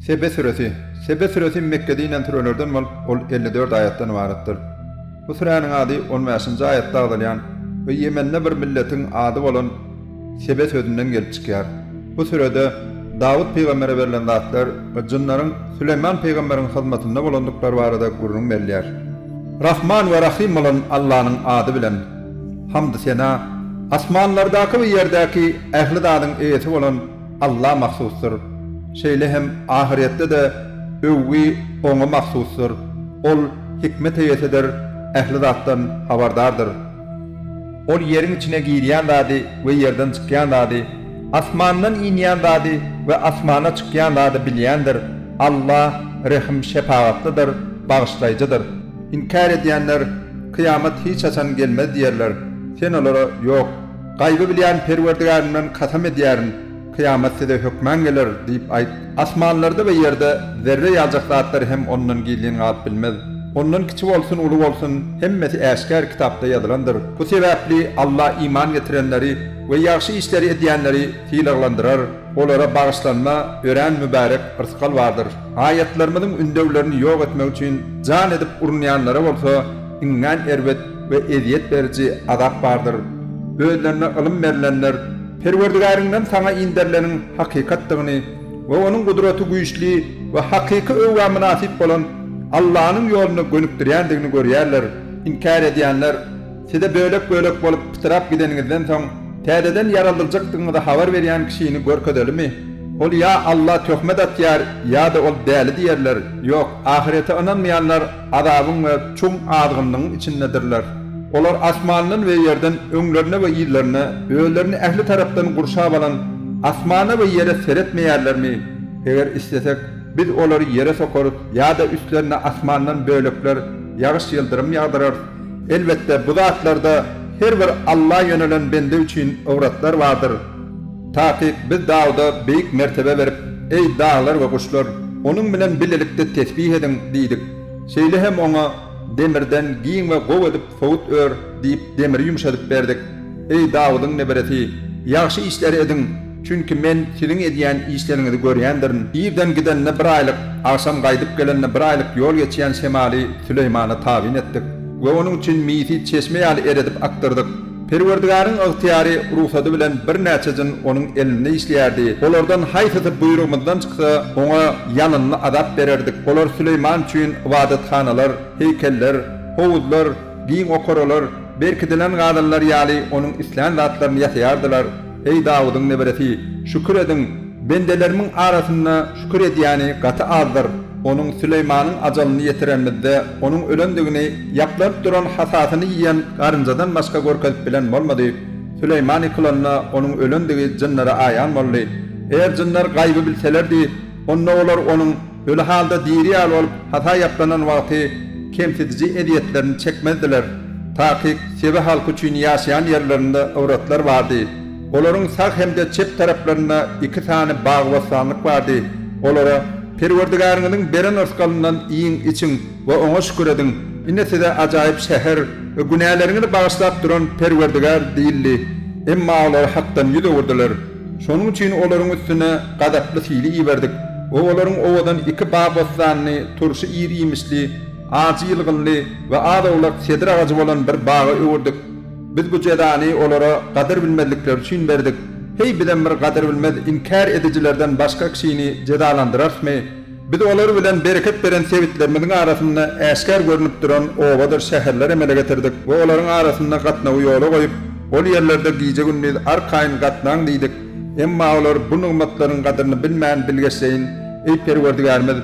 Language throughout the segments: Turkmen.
Sebe süresi. Sebe süresi Mekgede inen sürelerden bolup, ol elli dört aýatdan ybaratdyr. Bu süräniň ady on bäşinji aýatda agzalýan we Ýemende bir milletiň ady bolan Sebe sözünden gelip çykýar. Bu sürede Dawut pygambere berlen zatlar we jynlaryň Süleýman pygamberiň hyzmatynda bolandyklary barada gürrüň berilýär. Rahman we Rahym bolan Allanyň ady bilen. Hamdy-sena asmanlardaky we ýerdäki ähli zadyň eýesi bolan Alla mahsusdyr. Şeýle hem ahyretde-de öwgi Oňa mahsusdyr. Ol hikmet eýesidir, ähli zatdan habardardyr. Ol ýeriň içine girýän zady we ýerden çykýan zady, asmandan inýän zady we asmana çykýan zady bilýändir. Alla rehim-şepagatlydyr, bagyşlaýjydyr. Inkär edýänler Kyýamat hiç haçan gelmez diýerler. Sen olara, Ýok, gaýby bilýän Perwerdigärimden kasam edýärin, kyýamat size hökman geler diýip aýt. Asmanlarda we ýerde zerre ýaljak zatlar hem ondan gizlin galyp bilmez. Ondan kiçi bolsun, uly bolsun, hemmesi äşgär kitapda ýazylandyr. Bu sebäpli Alla iman getirenleri we ýagşy işleri edýänleri sylaglandyrar, olara bagyşlanma, örän mübärek rysgal bardyr. Raýatlarymyzyň ündewlerini ýok etmek üçin jan edip urunýanlara bolsa iňňän erbet we ezýet beriji azap bardyr. Özlerine ylym berlenler, Perwerdigäriňden saňa inderileniň hakykatdygyny we Onuň gudraty güýçli we hakyky öwgä mynasyp bolan Allanyň ýoluna gönükdirýändigini görýärler. Inkär edýänler. Size bölek-bölek bolup pytrap gideniňizden soň täzeden ýaraldyljykdygyňyzy habar berýän kişini görkezelimi? Ol ýa Alla töhmet atýar, ýa-da ol däli diýerler. Ýok, ahyrete ynanmaýanlar azabyň we çuň azgynlygyň içindedirler. Olar asmandan we ýerden öňlerine we yzlaryna, özlerini ähli tarapdan gurşap alan asmana we ýere seretmeýärlermi? Eger islesek, Biz olary ýere sokarys ýa-da üstlerine asmandan bölekler, ýagyş-ýyldyrym ýagdyrarys. Elbetde, bu zatlarda her bir Alla ýönelen bende üçin ybrtlar bardyr. Takyk Biz Dawuda beýik mertebe berip, Eý, daglar we guşlar, Onuň bilen bilelikde tesbih ediň! diýdik. Şeýle hem oňa, Demirden giň we gowy edip sowut ör diýip, demiri ýumşadyp berdik. Eý, Dawudyň neberesi, ýagşy işleri ediň, çünki Men siziň edýän işleriňizi görýändirin. Irden gidende bir aýlyk, agşam gaýdyp gelende bir aýlyk ýol geçýän şemaly Süleýmana tabyn etdik we onuň üçin misi çeşme ýaly eredip akdyrdyk. Perwerdigaryň ygtyýary, rugsady bilen birnäçe jyn onuň elinde işleýärdi. Olardan haýsysy buýrugymyzdan çyksa, oňa ýalynly azap bererdik. Olar Süleýman üçin ybadathanalar, heýkeller, howuzlar, Giň okaralar, berkidilen gazanlar ýaly onuň islän zatlaryny ýasaýardylar. Eý, Dawudyň neberesi, şükür ediň! Bendelerimiň arasynda şükür edýäni gaty azdyr. Onuň Süleýmanyň ajalyny ýetirenimizde, onuň ölendigini ýaplanyp duran hasasyny iýen garynjadan başga görkezip bilen bolmady. Süleýman ýykylanda, onuň ölendigi jynlara aýan boldy. Eger jynlar gaýby bilselerdi, onda olar onuň. Öli halda diri ýaly bolup hata ýaplanan wagty kemsidiji ezýetlerini çekmezdiler. Takyk Sebe halky üçin ýaşaýan ýerlerinde owratlar bardy. Olaryň sag hem-de çep taraplarynda iki sany bagy-bossanlyk bardy. Olara, Perwerdigäriňiziň beren rysgalyndan iýiň, içiň we Oňa şükür ediň. Ine size ajaýyp şäher we günäleriňizi bagyşlap duran Perwerdigär diýildi. Emma olar hakdan ýüz öwürdiler. Şonuň üçin olaryň üstüne gazaply sili iberdik we olaryň owadan iki bag bossanyny turşy ir-iýmişli, ajy ýylgynly we az-owlak sedr agajy bolan bir baga öwürdik. Biz bu jezany olara gadyr bilmezlikleri üçin berdik. Heý, bizem bir gadyr bilmez inkär edijilerden başga kişini jezalandyrarsmy? Biz olar bilen bereket beren sebitlerimiziň arasynda äşgär görnüp duran obadyr şäherler emele getirdik we olaryň arasynda gatnawy ýola goýup, ol ýerlerde gije-gündiz arkaýyn gatnaň diýdik, emma olar bu nygmatlaryň gadyryny bilmän bilgeşleýin, Eý Perwerdigärimiz!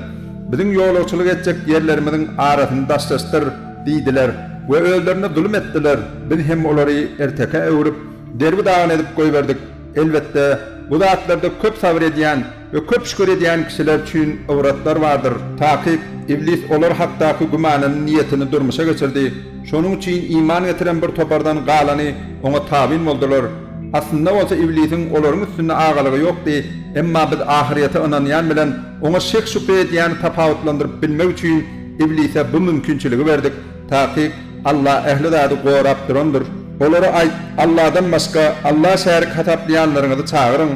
Biziň ýolagçylyk etjek ýerlerimiziň arasyny daşlaşdyr! diýdiler we özlerine zulum etdiler, biz hem olary ertekä öwrüp, derbi-dagyn edip goýberdik. Elbetde, bu zatlarda köp sabyr edýän, We köp şükür edýän kişiler üçin ybrtlar bardyr, takyk, Iblis olar hakdaky gümanyny, niýetini durmuşa geçirdi, şonuň üçin iman getiren bir topardan galany oňa tabyn boldular. Aslynda bolsa Iblisiň olaryň üstünde agalygy ýokdy, emma biz ahyrýete ynanýan bilen oňa şek-şübhe edýäni tapawutlandyryp bilmek üçin Iblise bu mümkinçiligi berdik. Takyk, Alla ähli zady gorap durandyr. Olara aýt, Alladan başga Alla şärik hasaplaýanlaryňyzy çagyryň,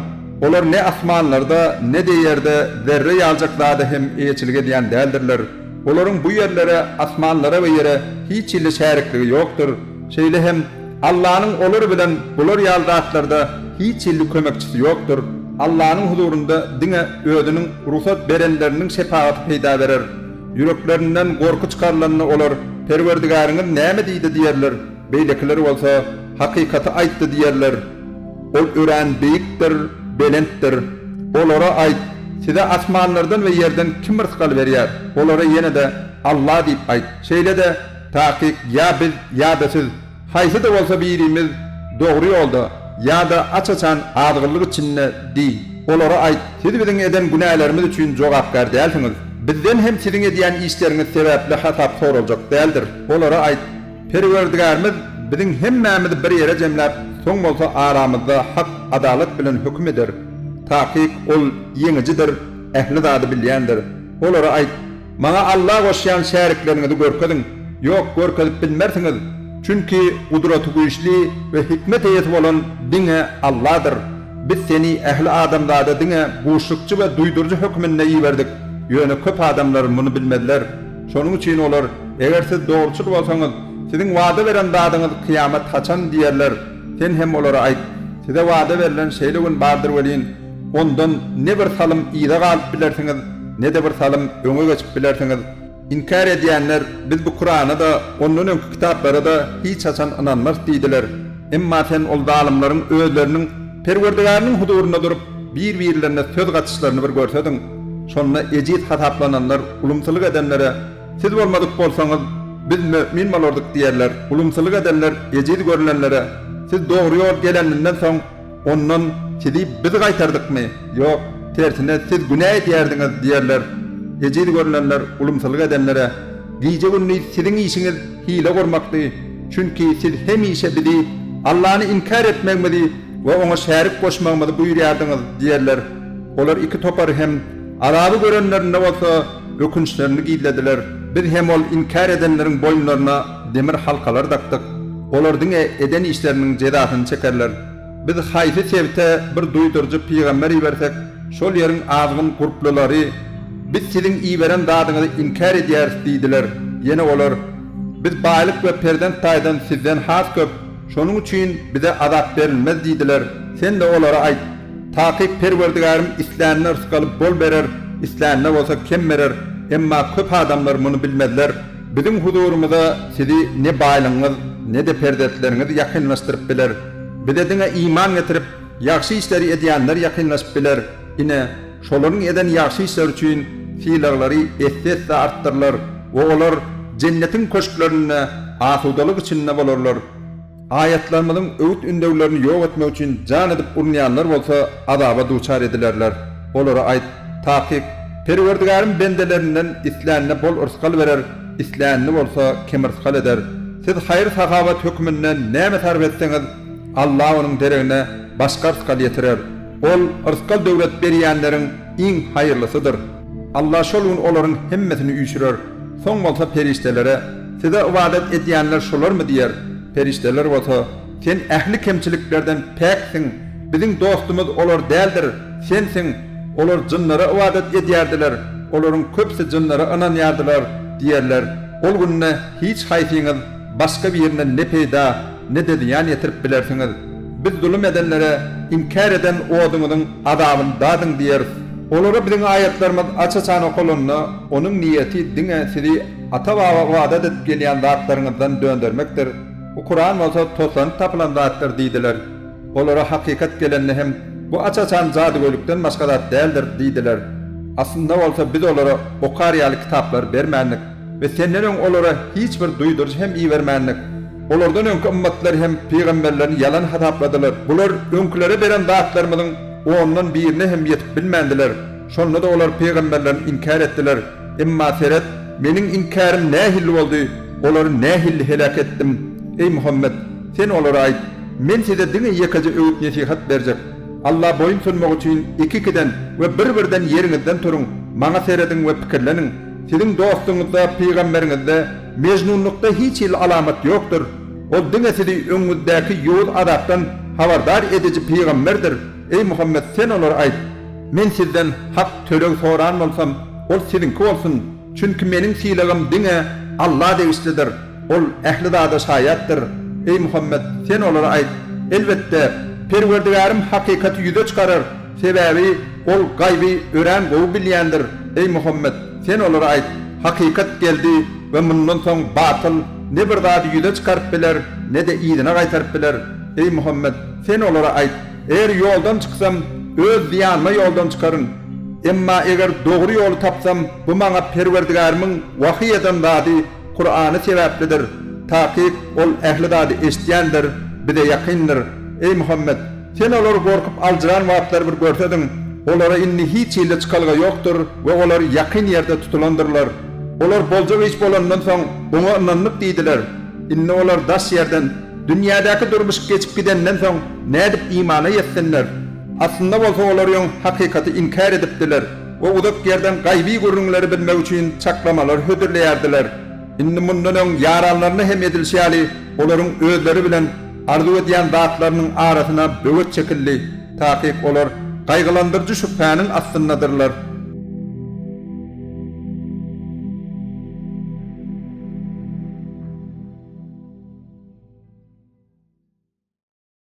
olar ne asmanlarda, ne-de ýerde zerre ýaljak zada hem eýeçilik edýän däldirler. Olaryň bu ýerlere, asmanlara we ýere hiç hili şärikligi ýokdur. Şeýle hem, Allanyň olar bilen bular ýaly zatlarda hiç hili kömekçisi ýokdur. Allanyň huzurynda diňe Özüniň rugsat berenleriniň şepagaty peýda berer. Ýüreklerinden gorky çykarylanda olar, Perwerdigäriňiz näme diýdi diýerler, beýlekiler bolsa, Hakykaty aýtdy diýerler. Ol örän beýikdir, belentdir. Olara aýt, Size asmanlardan we ýerden kim rysgal berýär? Olara ýene-de, Alla diýip aýt. Şeýle-de, Takyk, ýa biz, ýa-da siz. Haýsy-da bolsa birimiz dogry ýolda ýa-da aç-açan azgynlyk içinde diý. Olara aýt, Siz biziň eden günälerimiz üçin jogapkär dälsiňiz. Bizden hem siziň edýän işleriňiz sebäpli hasap soraljak däldir. Olara aýt, Perwerdigärimiz biziň hemmämizi bir ýere jemläp, soň bolsa aramyzda hak, adalat bilen höküm eder. Takyk Ol Ýeňijidir, ähli zady bilýändir. Olara aýt. Maňa Alla goşýan şärikleriňizi görkeziň. Ýok, görkezip bilmersiňiz, çünki Gudratygüýçli we hikmet eýesi bolan diňe Alladyr. Biz seni ähli adamzada diňe buşlukçy we duýduryjy hökmünde iberdik, ýöne köp adamlar muny bilmezler. Şonuň üçin olar, Eger siz dogruçyl bolsaňyz, siziň wada beren zadyňyz kyýamat haçan? diýerler. Sen hem olara aýt, Size wada berlen şeýle gün bardyr welin, Ondan ne bir salym yza galyp bilersiňiz, ne-de bir salym öňe geçip bilersiňiz. Inkär edýänler, Biz bu Kurana-da, ondan öňki kitaplara-da hiç haçan ynanmarys diýdiler. Emma sen ol zalymlaryň özleriniň Perwerdigäriniň huzurynda durup, bir-birlerine söz gatyşlaryny bir görsediň! Şonda ejiz hasaplananlar ulumsylyk edenlere, Siz bolmadyk bolsaňyz, biz mömin bolardyk diýerler. Ulumsylyk edenler ejiz görlenlere, Siz dogry ýol geleninden soň, Ondan, Sizi biz gaýtardykmy? Ýok, tersine, siz günä edýärdiňiz diýerler. Ejiz görünenler ulumsylyk edenlere, Gije-gündiz siziň işiňiz hile gurmakdy, çünki siz hemişe bizi, Allany inkär etmegimizi we Oňa şärik goşmagymyzy buýurýardyňyz diýerler. Olar iki topar hem, azaby görenlerinde bolsa, ökünçlerini gizlediler. Biz hem ol inkär edenleriň boýunlaryna demir halkalar dakdyk. Olar diňe eden işleriniň jezasyny çekerler. Biz haýsy sebite bir duýduryjy pygamber ibersek, şol ýeriň azgyn gurplulary, Biz siziň iberen zadyňyzy inkär edýäris diýdiler. Ýene olar, Biz baýlyk we perzent taýdan sizden has köp, şonuň üçin bize azap berilmez diýdiler. Sen-de olara aýt, Takyk Perwerdigärim islänine yrsgaly bol berer, islänine bolsa kem berer, emma köp adamlar muny bilmezler. Biziň huzurymyza sizi ne baýlygyňyz, ne-de perzentleriňiz ýakynlaşdyryp biler. Bize diňe iman getirip, ýagşy işleri edýänler ýakynlaşyp biler. Ine, şolaryň eden ýagşy işleri üçin sylaglary esse-esse artdyrylar we olar Jennetiň köşklerinde asudalyk içinde bolarlar. Aýatlarymyzyň öwüt-ündewlerini ýok etmek üçin jan edip urunýanlar bolsa azaba duçar edilerler. Olara aýt, Takyk, Perwerdigärim bendelerinden islänine bol yrsgal berer, islänini bolsa kemyrsgal eder. Siz haýyr-sahawat hökmünde näme sarp etseňiz, Alla onuň deregine başga yrsgal ýetirer. Ol, yrsgal-döwlet berýänleriň iň haýyrlysydyr. Allah şol gün olaryň hemmesini üýşürer. Soň bolsa perişdelere, Size ybadat edýänler şolarmy? diýer. Perişdeler bolsa, Sen ähli kemçiliklerden päksiň, biziň dostumyz olar däldir, Sensiň. Olar jynlara ybadat edýärdiler, olaryň köpüsi jynlara ynanýardylar diýerler. Ol günde hiç haýsyňyz. Başga birine ne peýda, ne-de zyýan ýetirip bilersiňiz. Biz zulum edenlere, Inkär eden oduňyzyň azabyny dadyň diýeris. Olara Biziň aýatlarymyz aç-açan okalanda, onuň niýeti diňe sizi ata-baba ybadat edip gelýän zatlaryňyzdan döndermekdir, bu Kuran bolsa toslanyp tapylan zatdyr diýdiler. Olara hakykat gelende hem, Bu aç-açan jadygöýlikden başga zat däldir diýdiler. Aslynda bolsa Biz olara okar ýaly kitaplary bermändik. we senden öň olara hiç bir duýduryş hem ibermändik. Olardan öňki ymmatlar hem pygamberlerini ýalan hasapladylar. Bular öňkülere beren zatlarymyzyň ondan birine hem ýetip bilmändiler. Şonda-da olar pygamberlerini inkär etdiler. Emma seret, Meniň inkärim nähilli boldy, olary nähilli heläk etdim! Eý, Muhammet! Sen olara aýt, Men size diňe ýekeje öwüt-nesihat berjek. Alla boýun sunmak üçin iki-ikiden we bir-birden ýeriňizden turuň, Maňa serediň we pikirleniň. Siziň dostuňyzda, pygamberiňizde mejnunlykda hiç hili alamat ýokdur. Ol diňe sizi öňüňizdäki ýowuz azapdan habardar ediji pygamberdir. Eý Muhammet, sen olara aýt. Men sizden hak töleg soran bolsam, ol siziňki bolsun, çünki meniň sylagym diňe Alla degişlidir, Ol ähli zada şaýatdyr. Eý Muhammet, sen olara aýt. Elbetde, Perwerdigärim hakykaty ýüze çykarar. Sebäbi Ol gaýby örän gowy bilýändir, eý Muhammet, sen olara aýt, Hakykat geldi we mundan soň batyl ne bir zady ýüze çykaryp biler, ne-de yzyna gaýtaryp biler. Eý Muhammet, sen olara aýt, Eger ýoldan çyksam, öz zyýanyma ýoldan çykaryn. Emma eger dogry ýoly tapsam, bu maňa Perwerdigärimiň wahyý eden zady, Kurany sebäplidir. Takyk Ol ähli zady eşidýändir, Bize ýakyndyr. Eý Muhammet! Sen olary gorkup aljyran wagtlary bir görsediň, olara indi hiç hilli çykalga ýokdur we olar ýakyn ýerde tutulandyrlar. Olar boljak iş bolandan soň, oňa ynandyk diýdiler. Indi olar daş ýerden, dünýädäki durmuş geçip gidenden soň, nädip imana ýetsinler? Aslynda bolsa olar öň hakykaty inkär edipdiler we uzak ýerden gaýyby gürrüňleri bilmek üçin çaklamalar hödürleýärdiler. Indi mundan öň ýaranlaryna hem edilişi ýaly, olaryň özleri bilen arzuw edýän zatlarynyň arasyna böwet çekildi, takyk olar gaýgylandyryjy şübhäniň astyndadyrlar.